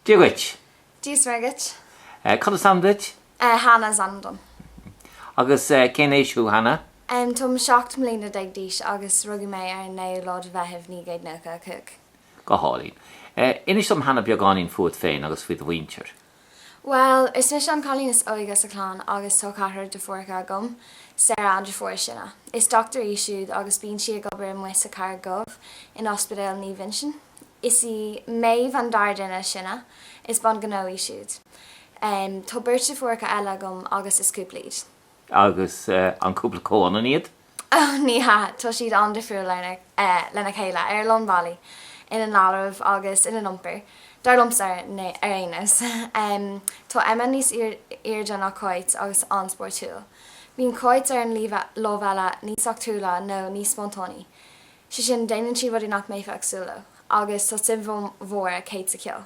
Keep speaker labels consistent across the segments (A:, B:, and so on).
A: Dia dhuit. Dia is
B: Muire dhuit. Cad is ainm
A: duit? Hannah is ainm
B: dom.
A: Agus cén aois thú Hannah? Táim
B: seacht mbliana déag d'aois agus rugadh mé ar an 9ú lá de Mheitheamh 1995. Go hálainn.
A: Inis dom Hannah beagáinín fuat féin agus faoi do mhuintir.
B: Bhuel, is mise an cailín is óige sa chlann agus tá ceathrar deirfiúracha agam, Sarah an deirfiúr is sine. Is dochtúir í siúd agus bíonn sí ag obair amuigh sa Charraig Dhubh in Ospidéal Naomh Uinseann. Is í Maeve an dara duine is sine, is bean gnó í siúd. Tá beirt deirfiúracha eile agam agus is cúpla iad. Agus
A: an cúpla comhionann iad? Ní hea,
B: tá siad an-difriúil lena chéile ar a lán bealaí, ina ndealramh agus ina n-iompar, dar liomsa ar aon nós. Tá Emma níos airde ná Cáit agus an-spórtúil. Bíonn Cáit ar an lámh eile níos eachtrúla nó níos spontánaí, sé sin déanann sí rudaí nach mbeifeá ag súil leo, agus tá suim mhór ag Kate sa cheol.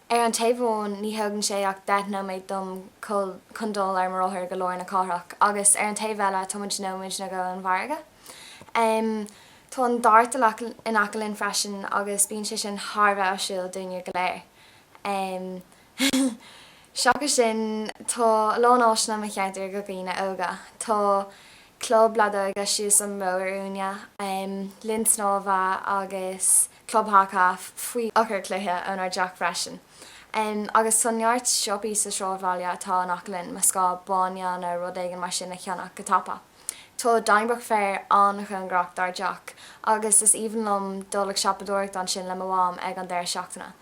B: Ar an taobh amháin ní thógann sé ach deich nóiméad dom chun dul ar mo rothar go lár na cathrach agus ar an taobh eile táimid nóiméad nó dhó ón bhfarraige. Tá an Dart in aice linn freisin agus bíonn sé sin thar a bheith áisiúil dúinne go léir. Seachas sin tá a lán áiseanna i mo cheantar do dhaoine óga. Tá club leadóige síos an bóthar uainne, linn snámha agus. club haca faoi urchar cloiche ónár dteach freisin agus tá neart siopaí sa sráidbhaile atá in aice linn más gá bainne nó rud éigin mar sin a cheannach go tapa. Tá Donnybrook Fair an-chóngarach dár dteach agus is aoibhinn liom dul ag siopadóireacht ansin le mo mham ag an deireadh seachtaine.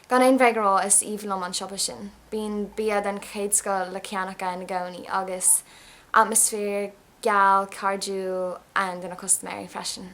B: Gan aon bhréag a rá is aoibhinn liom an siopa sin. Bíonn bia den chéad scoth le ceannach ann i gcónaí agus atmaisféar geal cairdiúil ann do na custaiméirí freisin.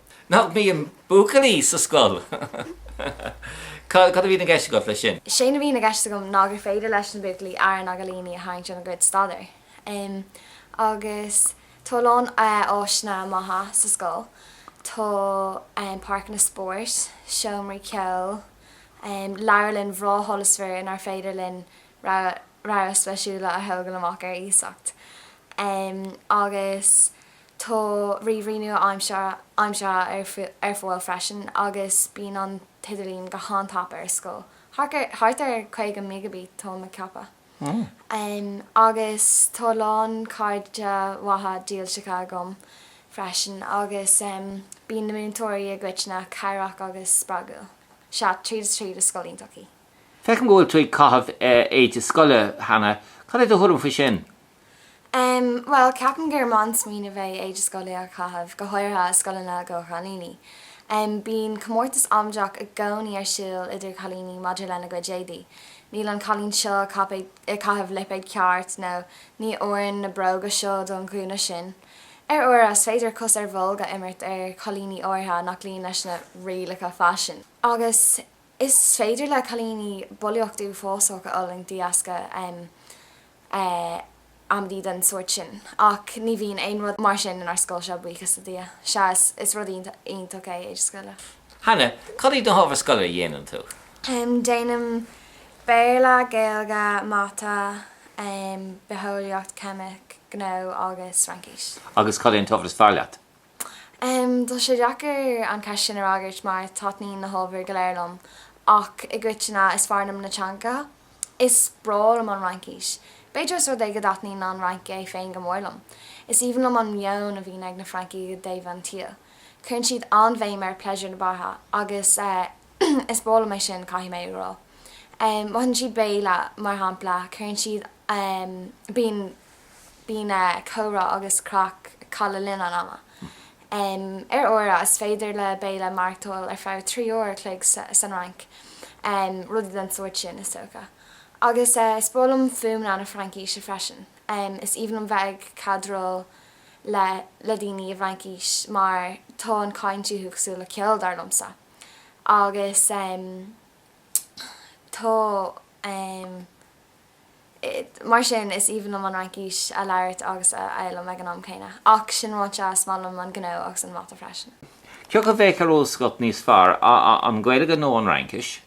B: Nach
A: mbíonn buachaillí sa scoil? Cad a bhíonn i gceist agat leis sin? Sé'n a bhíonn i gceist
B: agam ná gur féidir leis na buachaillí aire na gcailíní a tharraingt óna gcuid staidéar. Agus tá a lán áiseanna maithe sa scoil. Tá páirceanna spóirt, seomraí ceoil, leabharlann bhreá sholasmhar inár féidir linn rogha leabhair spéisiúla a thógáil amach ar iasacht. Agus Tá ríomhairí nua-aimseartha ar fáil freisin agus bíonn an t-idirlíon go han-tapa ar scoil, thart ar 50 Meigiabit táim ag ceapadh. Agus tá a lán cairde mhaithe dílseacha agam freisin agus bíonn na múinteoirí i gcoitinne cabhrach agus spreagúil. Sea, tríd is tríd is scoil iontach í. Feicim go bhfuil tú
A: ag caitheamh éide scoile Hannah, cad é do thuairim faoi sin?
B: Em, bhuel, ceapaim gur maith an smaoineamh a bheith éide scoile a chaitheamh, go háirithe i scoileanna do chailíní. Em, bíonn comórtas amaideach i gcónaí ar siúl idir chailíní maidir lena gcuid éadaí. Níl an cailín seo ag caipéad, ag caitheamh lipéad ceart nó ní oireann na bróga seo don ghúna sin. Ar uaire is féidir cos ar bholg a imirt ar chailíní áirithe nach luíonn leis na rialacha faisin. Agus Is féidir le cailíní bulaíocht uafásach a fhulaingt de dheasca em amaidí den sórt sin ach ní bhíonn aon rud mar sin inár scoil seo, buíochas le Dia. Sea, is rud iontach é éide scoile. Hannah,
A: cad iad na hábhair scoile a dhéanann tú?
B: Déanaim Béarla, Gaeilge, Mata, Bitheolaíocht, Ceimic, Gnó agus Fraincis. Agus cad é an t-ábhar is
A: fearr leat?
B: Tá sé deacair an cheist sin a fhreagairt mar taitníonn na hábhair go léir liom ach i gcoitinne is fearr liom na teangacha. Is breá liom an Fhraincis. B'fhéidir ós rud é go dtaitníonn an Fhrainc é féin go mór liom. Is aoibhinn liom an meon a bhíonn ag na Francaigh i dtaobh an tsaoil. Cuireann siad an-bhéim ar pléisiúr na beatha agus is breá liom é sin, caithfidh mé a rá. Má itheann siad béile mar shampla, cuireann siad bíonn. Bíonn comhrá agus craic acu le linn an ama. Ar uaire is féidir le béile maireachtáil ar feadh trí uair a chloig san Fhrainc, rudaí den sórt sin is dócha. Agus is breá liom fuaimeanna na Fraincise freisin. Is aoibhinn liom bheith ag cadráil le le daoine i bhFraincis mar tá an chaint uathu cosúil le ceol, dar liomsa. Agus tá. Mar sin, is aoibhinn liom an Fhraincis a labhairt agus a fhoghlaim ag an am céanna. Ach sin ráite, is maith liom an gnó agus an mata freisin. Cé acu a bheadh ar
A: eolas agat níos fearr, an Ghaeilge nó an Fhraincis?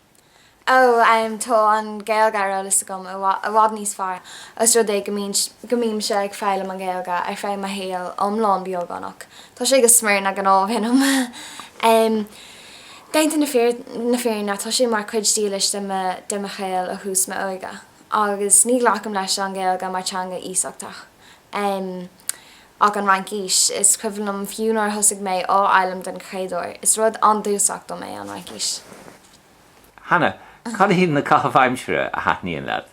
B: Ó, tá an Ghaeilge ar eolas agam i bhfad níos fearr, ós rud é go mbímse ag foghlaim an Ghaeilge ar feadh mo shaoil iomlán beagnach. Tá sé go smior na gcnámh ionam. Déanta na fírinne tá sé mar chuid dílis de de mo shaol ó thús m'óige agus ní ghlacaim leis an Ghaeilge mar teanga iasachtach ach an Fhraincis. Is cuimhin liom fiú nuair a thosaigh mé á fhoghlaim den chéad uair, is rud an-dúchasach dom é an
A: Fhraincis. Hannah, cad iad na caithimh aimsire a thaitníonn leat?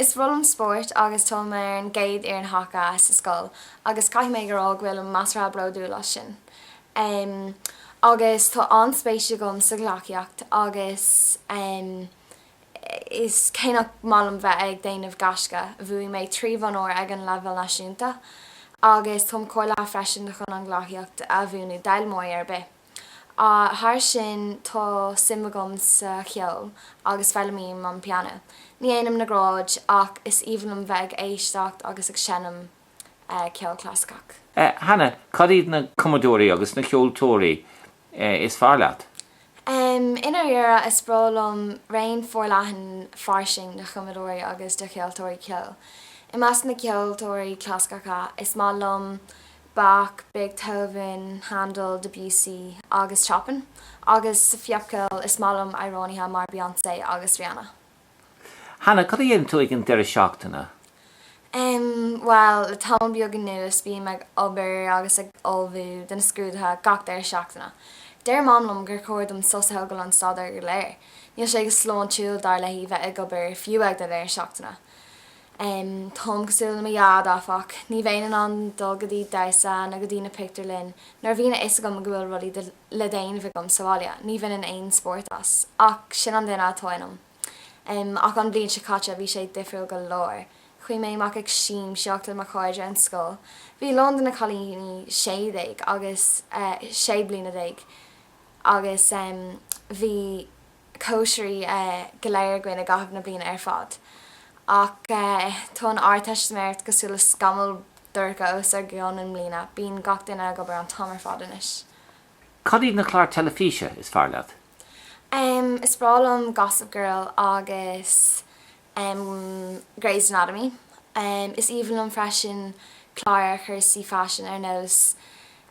A: Is
B: breá liom spórt agus táim ar an gcéad fhoireann haca sa scoil agus caithfidh mé a rá go bhfuilim measartha bródúil as sin. em agus tá an-spéis agam sa ghleacaíocht agus em is cé nach maith liom bheith ag déanamh gaisce bhuaigh mé trí bhonn óir ag an leibhéal náisiúnta agus táim cáilithe freisin chun an ghleacaíocht a mhúineadh d'fhoghlaimeoirí ar bith thar sin tá suim agam sa cheol agus foghlaimím an pianó ní dhéanaim na gráid ach is aoibhinn liom bheith ag éisteacht agus ag seinm ceol clasaiceach. Hannah,
A: cad iad na cumadóirí agus na ceoltóirí is fearr leat? I
B: ndáiríre, is breá liom raon forleathan fairsing de chumadóirí agus de cheoltóirí ceoil. I measc na gceoltóirí clasaiceacha, is maith liom Bach, Beethoven, Handel, Debussy agus Chopin, agus sa phopcheol, is maith liom amhránaithe mar Beyonce agus Rihanna.
A: Hannah, cad a dhéanann tú ag an deireadh seachtaine?
B: Em, bhuel, le tamall beag anuas bím ag obair agus ag ullmhú do na scrúduithe gach deireadh seachtaine. Deir Mam liom gur chóir dom sos a thógáil ón staidéar go léir. Níl sé go sláintiúil, dar léi, bheith ag obair, fiú ag do dheireadh seachtaine. Em, táim cosúil le mo Dhaid, áfach. Ní bheinn in ann dul go dtí damhsa nó go dtí na pictiúrlainn nuair a bhíonn a fhios agam go bhfuil rudaí le déanamh agam sa bhaile. Ní bhainfinn aon spórt as, ach sin an duine atá ionam. Ach an bhliain seo caite, bhí sé difriúil go leor. Chuaigh mé amach ag siamsaíocht le mo chairde ón scoil. Bhí a lán de na cailíní sé déag agus sé bliana déag agus bhí. cóisirí go léir againn i gcaitheamh na bliana ar fad ach tá an Ardteistiméireacht cosúil le scamall dorcha os ár gcionn i mbliana, bíonn gach duine ag obair an t-am ar fad anois. Cad iad
A: na cláir teilifíse is fearr
B: leat? Is breá liom Gossip Girl agus em Grey's Anatomy em is aoibhinn liom freisin cláir ar chúrsaí faisin ar nós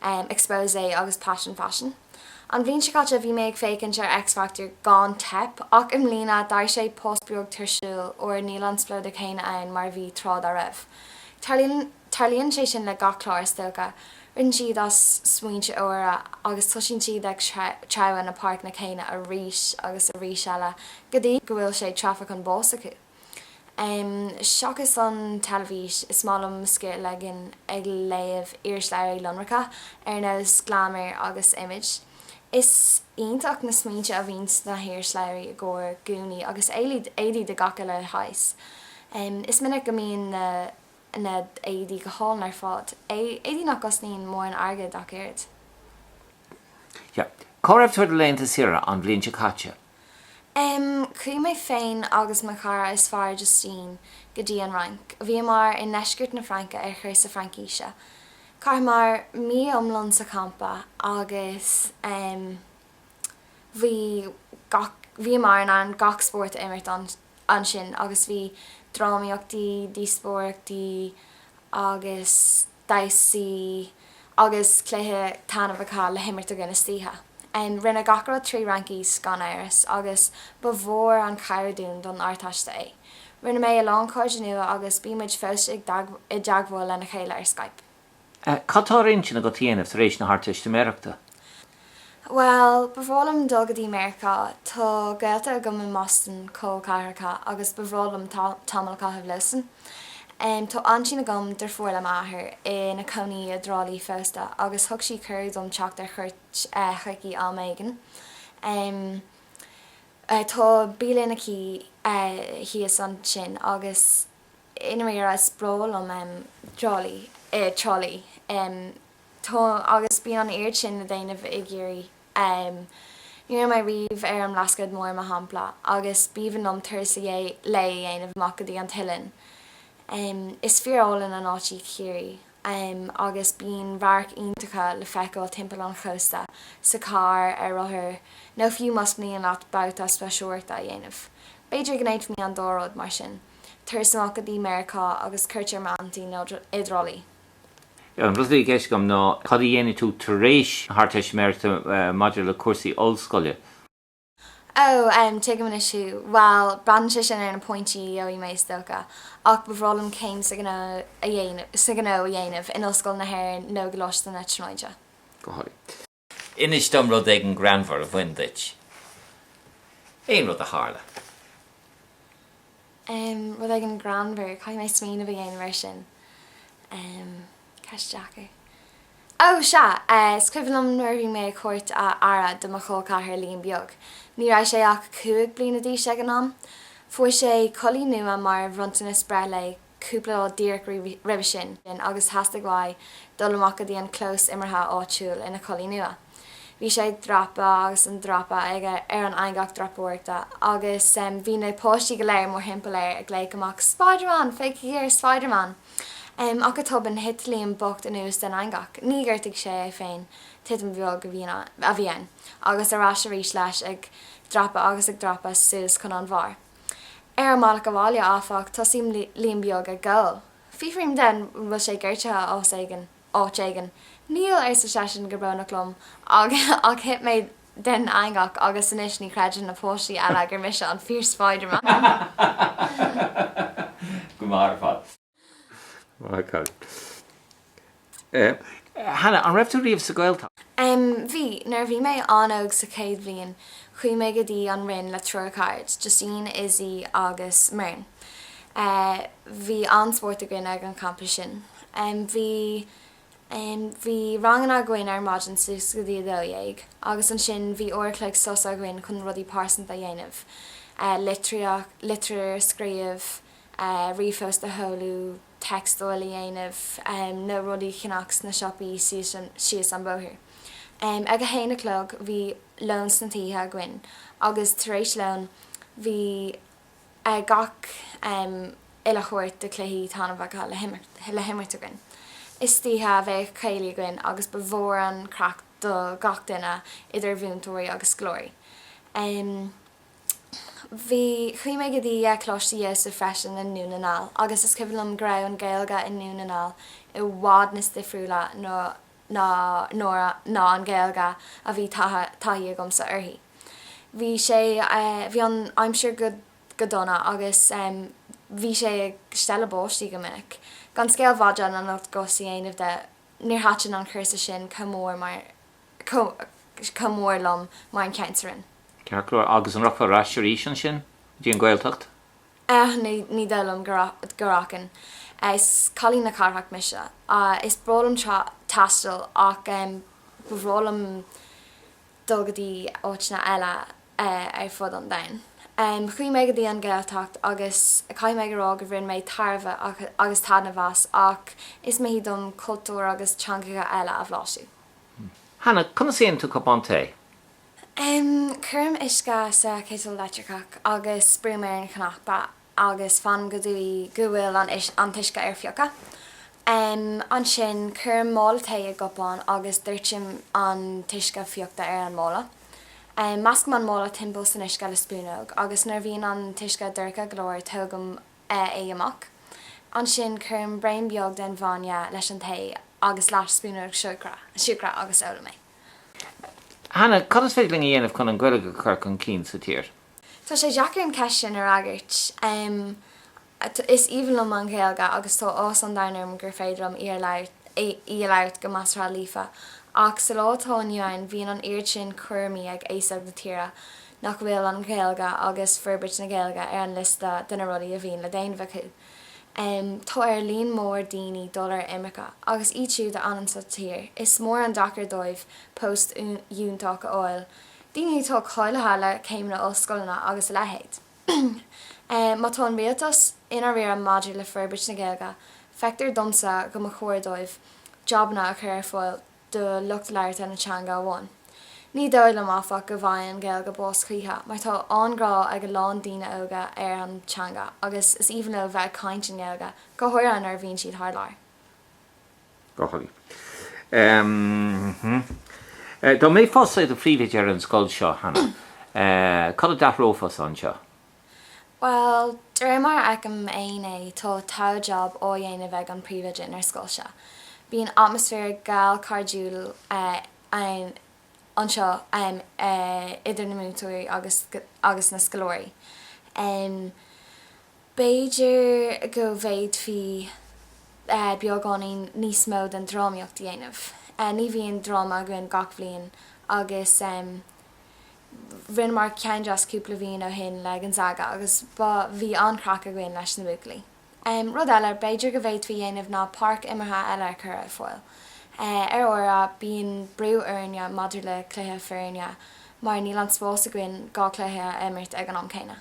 B: em Exposé agus Passion Fashion an bhliain seo caite bhí mé ag féachaint ar X Factor gan teip ach i mbliana d'éirigh sé pas beag tuirsiúil óir níl an spleodar céanna ann mar a bhí tráth dá raibh tarlaíonn Tarlaíonn sé sin le gach clár is dócha. Ritheann siad as smaointe úra agus tosaíonn siad ag treabhadh na páirceanna céanna arís agus arís eile go dtí go bhfuil sé treafa chun báis acu. Seachas an teilifís, is maith liom mo scíth a ligean ag léamh irisleabhraí lonracha ar nós Glamour agus Image. Is iontach na smaointe a bhíonn sna hirisleabhraí i gcomhair gúnaí agus éadaí de gach uile shaghas. Is minic go mbíonn na. na h-éadaí go h-álainn ar fad. Éadaí nach gcosnaíonn mórán airgid ach oiread.
A: Sea. Cá raibh tú ar do laethanta saoire an bhliain seo caite?
B: Chuaigh mé féin agus mo chara is fearr, Justine, go dtí an Fhrainc. Bhíomar i ndeisceart na Fraince ar chúrsa Fraincíse. Chaitheamar mí iomlán sa champa agus bhí gach, bhíomar in ann gach spórt a imirt. ansin agus bhí drámaíochtaí, díospóireachtaí agus damhsaí agus cluichí taitneamhacha le himirt againn istoíche. Rinneadh gach rud trí Fhraincis gan amhras agus ba mhór an chabhair dúinn don Ardteiste é. Rinne mé a lán cairde nua agus bímid fós i dteagmháil lena chéile ar Skype. Cad tá
A: ar intinn agat a dhéanamh tar éis na
B: hArdteistiméireachta? Bhuel, ba bhreá liom dul go dtí Meiriceá. Tá gaolta agam i mBoston col ceathracha agus ba bhreá liom tamall a chaitheamh leosan. Tá aintín agam deirfiúr le m'athair ina cónaí i dTrá Lí fosta agus thug sí cuireadh dom teacht ar chuairt chuici am éigin. Tá bialann aici thíos ansin agus. I ndáiríre is breá liom Trá Lí, eh Trá Lí, em tá agus bíonn an oiread sin le déanamh i gCiarraí em ní raibh mé riamh ar an mBlascaod Mór mar shampla agus b'aoibhinn liom turas a dh lae a dhéanamh amach go dtí an t-oileán em is fíor-álainn an áit í Ciarraí em agus bíonn radhairc iontacha le feiceáil timpeall an chósta sa charr, ar rothar nó fiú más mian leat babhta spaisteoireachta a dhéanamh b'fhéidir go ndéanfaimid an dá rud, mar sin. turas amach go dtí Meiriceá agus cuairt ar m'aintín i dTrá Lí.
A: An rud a bhí i gceist agam ná cad a dhéanfaidh tú tar éis na hArdteistiméireachta maidir le cúrsaí ollscoile. Ó,
B: em, tuigim anois thú. Bhuel, braitheann sé sin ar na pointí a gheobhaidh mé is dócha, ach ba bhreá liom céim sa gh, sa ghnó a dhéanamh in Ollscoil na hÉireann nó i gColáiste na Tríonóide. Go háirithe.
A: Inis dom rud éigin greannmhar a bhain duit, aon rud a
B: tharla. Em, rud éigin greannmhar, caithfidh mé smaoineamh a dhéanamh air sin. Em, ceist deacair. Ó, sea, eh, is cuimhin liom nuair a bhí mé ag tabhairt a aire do mo chol-ceathrar Liam Beag. Ní raibh sé ach cúig bliana d'aois ag an am. Fuair sé culaith nua mar bhronntanas breithlae cúpla lá díreach roimhe sin agus theastaigh uaidh dul amach go dtí an clós imeartha áitiúil ina chulaith nua. Bhí sé ag dreapadh agus ag dreapadh aige ar an eangach dreapadoireachta agus bhí na páistí go léir mórthimpeall air ag glaoch amach Spiderman! Féachaigí ar Spiderman! Ach go tobann thit Liam bocht anuas den eangach. Níor ghortaigh sé é féin, titim bheag a bhí ann, agus ar ais arís leis ag dreapadh agus ag dreapadh suas chun an bharr. Ar an mbealach abhaile, áfach, tosaíonn Liam beag ag gol. Fiafraím de an bhfuil sé gortaithe áit éigin. Níl, arsa seisean go brónach liom, ach thit mé den eangach agus anois ní chreideann na páistí eile gur mise an fíor-Spiderman!
A: Go maith ar fad. Hannah, an raibh tú riamh sa Ghaeltacht?
B: Bhí. Nuair a bhí mé an-óg sa chéad bhliain chuaigh mé go dtí an Rinn le triúr carad, Justine, Izzy agus Muireann. Bhí an-spórt againn ag an champa sin. Bhí bhí ranganna againn ar maidin suas go dtí a dó dhéag agus ansin bhí uair an chloig sos againn chun rudaí pearsanta a dhéanamh, litríocht, litir a scríobh. ríomhphost a sheoladh, textáil a dhéanamh nó rudaí a cheannach sna siopaí síos an bóthar. Ag a haon a chlog bhíodh lón sna tithe againn agus tar éis lóin bhíodh gach uile shórt de chluichí taitneamhacha le himirt againn. Istoíche bhíodh céilí againn agus ba mhór an chraic do gach duine idir mhúinteoirí agus scoláirí. Bhí, chuaigh mé go dtí Coláiste Iósaef freisin i nDún na nGall agus is cuimhin liom go raibh an Ghaeilge i nDún na nGall i bhfad níos difriúla ná ná nuair a ná an Ghaeilge a bhí taithe taithí agamsa uirthi. Bhí sé, bhí an aimsir go go dona agus bhí sé ag stealladh báistí go minic. Gan scéal mhadra na n-ocht gcos a dhéanamh de, níor thaitin an cúrsa sin chomh mór mar, chomh mór liom mar an ceann sa Rinn. Ceart go leor,
A: agus an rachfá ar ais arís ansin go dtí an
B: Ghaeltacht? Ní dóigh liom go rachainn. Is cailín na cathrach mise. Is breá liom taisteal ach ba bhreá liom dul go dtí áiteanna eile ar fud an domhain. Chuaigh mé go dtí an Ghaeltacht agus caithfidh mé a rá go bhain mé tairbhe agus taitneamh as ach is mithid dom cultúir agus teangacha eile a bhlaiseadh.
A: Hannah, conas a dhéanann tú cupán tae?
B: Em, cuirim uisce sa chiotal leictreacach agus brúim ar an chnaipe agus fanaim go dtí go bhfuil an, an t-uisce ar fiuchadh. Em, ansin cuirim mála tae i gcupán agus doirtim an t-uisce fiuchta ar an mála. Em, meascaim an mála timpeall san uisce le spúnóg agus nuair a bhíonn an t-uisce dorcha go leor tógaim an, é amach. Ansin cuirim braon beag den bhainne leis an tae agus leath spúnóg siúcra agus ólaim é.
A: Hannah, conas is féidir linn a dhéanamh chun an Ghaeilge a chur chun cinn sa tír? Tá sé deacair
B: an cheist sin a fhreagairt. Is aoibhinn liom an Ghaeilge agus tá áthas an domhain orm gur féidir liom í a labhairt go measartha líofa, ach sa lá atá inniu ann bíonn an oiread sin cúraimí ag aos óg na tíre nach bhfuil an Ghaeilge agus forbairt na Gaeilge ar an liosta de na rudaí a bhíonn le déanamh acu. Tá ar líon mór daoine dul ar imirce, agus iad siúd a fhanann sa tír, is mór an deacracht dóibh post fhiúntach a fháil, daoine atá cáilithe le céimeanna ollscoileanna agus a leithéid. Má tá an rialtas i ndáiríre maidir le forbairt na Gaeilge, feictear domsa go mba chóir dóibh jabanna a chur ar fáil do lucht labhartha na teanga amháin. Ní dóigh liom, áfach, go bhfaighidh an Ghaeilge bás choíche, mar tá an-ghrá ag a lán daoine óga ar an teanga agus is aoibhinn leo bheith ag caint i nGaeilge, go háirithe nuair a bhíonn siad thar
A: lear. Go breá. Dá mbeifeása i do phríomhoide ar an scoil seo, Hannah, cad a d'athrófá anseo?
B: Bhuel, de réir mar a fheicim féin é, tá togha jab á dhéanamh ag an bpríomhoide inár scoil seo. Bíonn atmaisféar geal cairdiúil ann anseo idir na múinteoirí agus na scoláirí. B'fhéidir go bhféadfaí beagáinín níos mó den drámaíocht a dhéanamh. Ní bhíonn dráma againn gach bhliain agus. Rinneamar ceann deas cúpla bhliain ó shin le Gonzaga agus ba, bhí an-chraic againn leis na buachaillí. Rud eile b'fhéidir go bhféadfaí dhéanamh ná páirc imeartha eile a chur ar fáil. Ar uairibh bíonn brú orainne maidir le cluiche foirne mar níl an spás againn dhá cluiche a imirt ag an am céanna.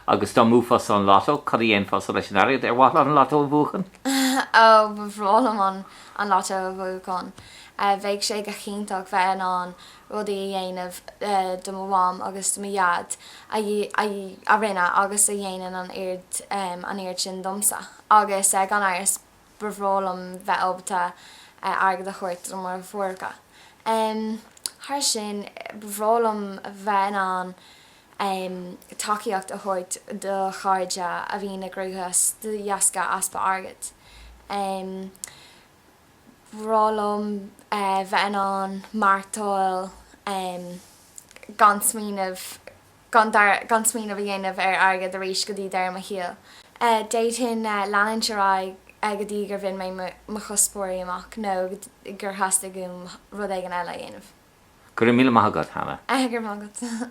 B: Agus
A: dá mbuafása an Lotto, cad a dhéanfása leis an airgead ar mhaith leat an Lotto a bhuachan? Ó, ba
B: bhreá liom an Lotto a bhuachan. Bheadh sé go hiontach bheith in ann rudaí a dhéanamh do mo mham agus do mo dhaid a rinne agus a dhéanann an oiread sin domsa. Agus gan amhras ba bhreá liom bheith ábalta airgead a thabhairt do mo dheartháireacha. Thairis sin, ba bhreá liom bheith in ann tacaíocht a thabhairt do chairde a bhíonn i gcruachás de dheasca easpa airgid. Ba bhreá liom bheith in ann maireachtáil gan smaoineamh gan smaoineamh a dhéanamh ar airgead arís go dtí deireadh mo shaoil. D'fhéadfainn leanúint ar aghaidh go dtí gur bhain mé mo chuspóirí amach nó gur theastaigh uaim rud éigin eile a dhéanamh. Go raibh míle
A: maith
B: agat, Hannah. Go raibh maith agat.